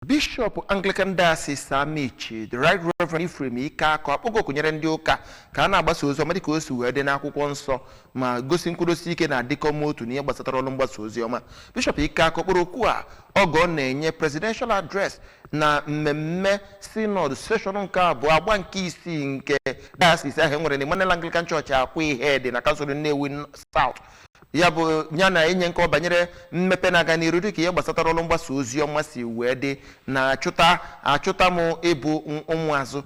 bishọp anglican diocese amichi the right reverend ephraim ikeakor akpọgo oku nyere ndị ụka ka a na-agbasa ozi ọma dịka o si wee dị n'akwụkwọ nsọ ma gosi nkwụdosi ike na ịdịkọ n'otu n'ihe gbasatara ọrụ mgbasa ozi ọma bishọp ikeakor kpọrọ oku a oge ọ na-enye presidential address na mmemme synod seshọn nke abụọ agba nke isii nke diocese ahụ e nwere na emmanuel anglican church akwaihedi na kansụl nnewi south ya bụ ya na-enye nkọwa banyere mmepe na-aga n'iru dịka ihe gbasatara ọrụ mgbasa ozi ọma si wee dị na achụta achụta m ịbụ m- ụmụazụ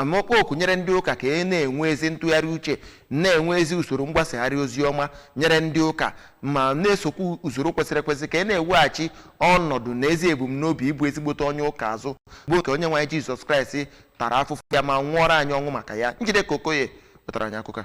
ma kpọọ oku nyere ndị ụka ka e na-enwe ezi ntụgharị uche na-enwe ezi usoro mgbasagharị ozi ọma nyere ndị ụka ma na-esokwu usoro kwesịrị ekwesị ka e na-eweghachi ọnọdụ na ezi ebumnobi ịbụ ezigbote onye ụka azụ bụ nke onye nwe anyị jizọs kraịst tara afụfụ ya ma nwụọrọ anyị ọnwụ maka ya njideka okoye wetara anyị akụkọ a.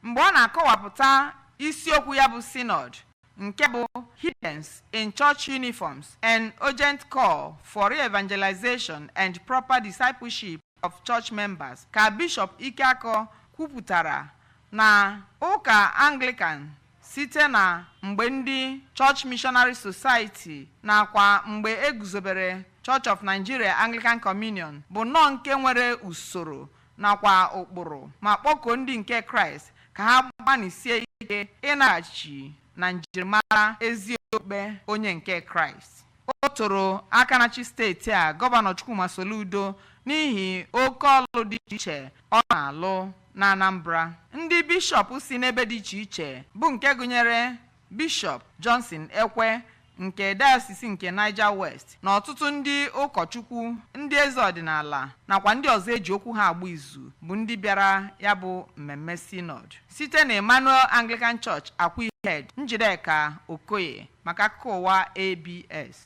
Mgbe ọ na-akọwapụta isiokwu ya bụ Synod nke bụ Heathens in Church Uniforms, An Urgent Call for Re-Evangelization and Proper Discipleship of Church Members ka Bishọp Ikeakor kwupụtara na ụka Anglican site na mgbe ndị Church Missionary Society nakwa mgbe e guzobere Church of Nigeria Anglican Communion bụ nnọọ nke nwere usoro nakwa ụkpụrụ ma kpọkuo ndị nke Kraịst ka ha gbanịsie ike ịnaghachi na njirimara ezi okpukpe onye nke Kraịst. O toro aka na-achị steeti a Gọvanọ Chukwuma Soludo n'ihi oke ọlụ dị iche iche ọ na-alụ n'Anambra. Ndị bishọp si n'ebe dị iche iche bụ nke gụnyere Bishọp Johnson Ekwe nke Dayọsis nke Niger West na ọtụtụ ndị ụkọchukwu, ndị eze ọdịnala nakwa ndị ọzọ e ji okwu ha agba izu bụ ndị bịara ya bụ mmemme Synod. Site na Emmanuel Anglican Church Akwaihedi, Njideka Okoye maka akụkọ ụwa ABS.